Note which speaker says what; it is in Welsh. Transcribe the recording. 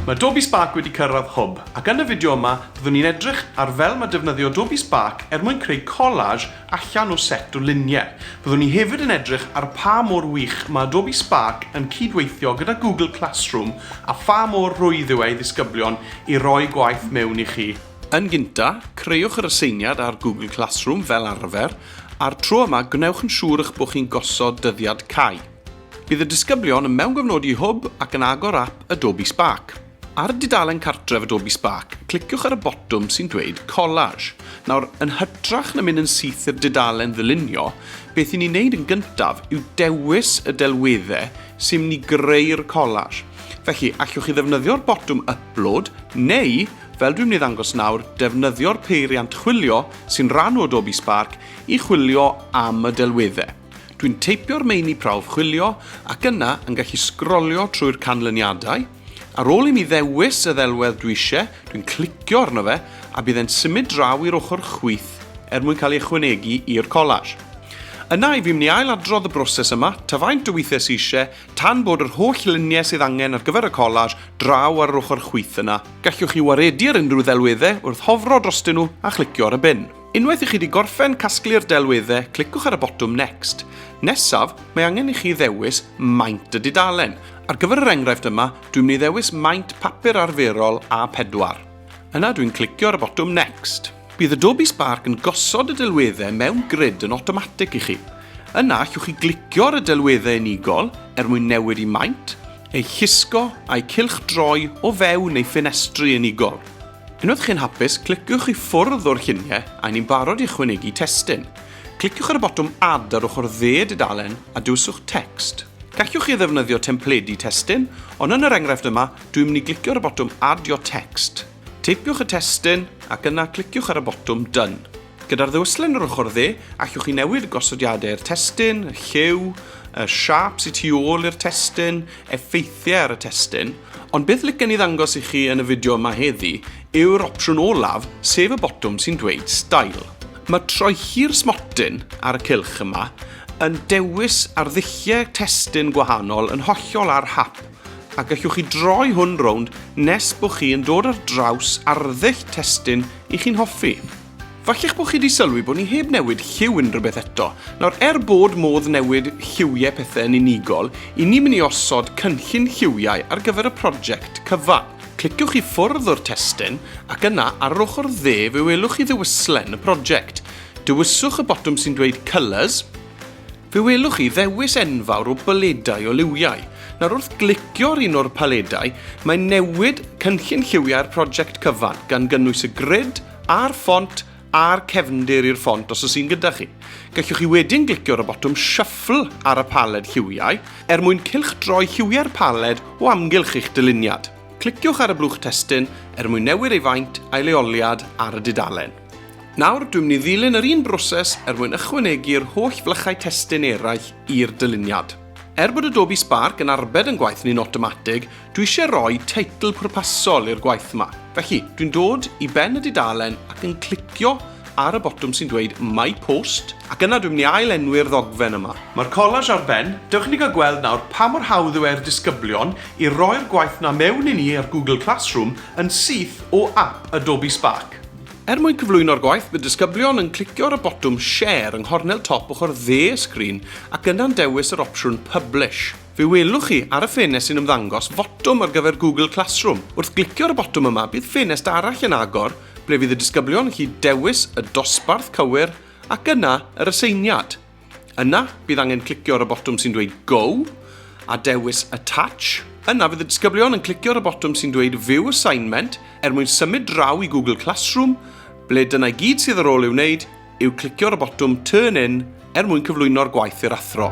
Speaker 1: Mae Adobe Spark wedi cyrraedd hwb, ac yn y fideo yma, byddwn ni'n edrych ar fel mae defnyddio Adobe Spark er mwyn creu collage allan o set o luniau. Byddwn ni hefyd yn edrych ar pha mor wych mae Adobe Spark yn cyd-weithio gyda Google Classroom a pha mor rwydd yw e i ddisgyblion i roi gwaith mewn i chi. Yn gynta, creuwch yr aseiniad ar Google Classroom fel arfer, a'r tro yma gwnewch yn siŵr eich bod chi'n gosod dyddiad cau. Bydd y disgyblion yn mewngofnodi Hwb ac yn agor ap Adobe Spark. Ar y dudalen cartref Adobe Spark, cliciwch ar y botwm sy'n dweud Collage. Nawr, yn hytrach na mynd yn syth i'r dudalen ddylunio, beth i ni wneud yn gyntaf yw dewis y delweddau sy'n mynd i greu'r collage. Felly, allwch chi ddefnyddio'r botwm Upload neu Fel dwi'n mynd i ddangos nawr, defnyddio'r peiriant chwilio sy'n rhan o Adobe Spark i chwilio am y delweddau. Dwi'n teipio'r meini prawf chwilio ac yna yn gallu sgrolio trwy'r canlyniadau. Ar ôl i mi ddewis y ddelwedd dwi eisiau, dwi'n clicio arno fe a bydd e'n symud draw i'r ochr chwith er mwyn cael ei ychwanegu i'r collage. Yna, i fi mynd i ail adrodd y broses yma, ta faint o weithiau sydd eisiau, Tan bod yr holl luniau sydd angen ar gyfer y collage draw ar yr ochr chwith yna, gallwch chi waredu ar unrhyw ddelweddau wrth hofro drostyn nhw a chlicio ar y bin. Unwaith i chi wedi gorffen casglu'r delweddau, cliciwch ar y botwm Next. Nesaf, mae angen i chi ddewis maint y dudalen. Ar gyfer yr enghraifft yma, dwi'n mynd i ddewis maint papur arferol A4. Yna dwi'n clicio ar y botwm Next. Bydd Adobe Spark yn gosod y delweddau mewn grid yn awtomatig i chi. Yna, allwch chi glicio ar y delweddau unigol er mwyn newid i maint, eu llusgo a'u cylchdroi o fewn eu ffenestri unigol. Unwaith chi'n hapus, cliciwch i ffwrdd o'r lluniau a ni'n barod i ychwanegu testun. Cliciwch ar y botwm Add ar ochr dde y dudalen a dewiswch Text. Gallwch chi ddefnyddio templedi testun, ond yn yr enghraifft yma, dwi'n mynd i glicio ar y botwm Add your text. Teipiwch y testun ac yna cliciwch ar y botwm Done. Gyda'r ddewislen yr ochr dde, allwch chi newid y gosodiadau i'r testun, y lliw, y siap sy'n tu ôl i'r testun, effeithiau ar y testun, ond beth licen i ddangos i chi yn y fideo yma heddi yw'r opsiwn olaf, sef y botwm sy'n dweud Style. Mae troichi'r smotyn ar y cylch yma yn dewis arddulliau testun gwahanol yn hollol ar hap. a gellwch chi droi hwn rownd nes bod chi yn dod ar draws arddull testun i chi'n hoffi. Falle'ch bod chi wedi sylwi bod ni heb newid lliw unrhyw beth eto. Nawr, er bod modd newid lliwiau pethau yn unigol, i ni mynd i osod cynllun lliwiau ar gyfer y prosiect cyfan. Cliciwch i ffwrdd o'r testun, ac yna, ar yr ochr dde fe welwch chi ddewislen y prosiect. Dewiswch y botwm sy'n dweud Colours, Fe welwch chi ddewis enfawr o baledau o liwiau. Nawr wrth glicio ar un o'r paledau, mae'n newid cynllun lliwiau'r prosiect cyfan, gan gynnwys y grid a'r ffont a'r cefndir i'r ffont os oes un gyda chi. Gallwch chi wedyn glicio ar y botwm Shuffle ar y paled lliwiau er mwyn cylchdroi lliwiau'r paled o amgylch eich dyluniad. Cliciwch ar y blwch testun er mwyn newid ei faint a'i leoliad ar y dudalen. Nawr, dwi'n mynd i ddilyn yr un broses er mwyn ychwanegu'r holl flychau testun eraill i'r dyluniad. Er bod Adobe Spark yn arbed yn gwaith ni'n awtomatig, dwi eisiau rhoi teitl pwrpasol i'r gwaith yma. Felly, dwi'n dod i ben y dudalen ac yn clicio ar y botwm sy'n dweud My Post, ac yna dwi'n mynd i ail-enwi'r ddogfen yma. Mae'r collage ar ben, dewch i ni gael gweld nawr pa mor hawdd yw e i'r disgyblion i roi'r gwaith 'na mewn i ni ar Google Classroom yn syth o ap Adobe Spark. Er mwyn cyflwyno'r gwaith, bydd disgyblion yn clicio ar y botwm Share yng nghornel top ochr dde y sgrin ac yna'n dewis yr opsiwn Publish. Fe welwch chi ar y ffenest sy'n ymddangos fotwm ar gyfer Google Classroom. Wrth glicio ar y botwm yma, bydd ffenest arall yn agor ble fydd y disgyblion yn gallu dewis y dosbarth cywir ac yna yr aseiniad. Yna, bydd angen clicio ar y botwm sy'n dweud Go a dewis Attach. Yna, fydd y disgyblion yn clicio ar y botwm sy'n dweud View Assignment er mwyn symud draw i Google Classroom, ble dyna i gyd sydd ar ôl ei wneud yw clicio ar y botwm Turn In er mwyn cyflwyno'r gwaith i'r athro.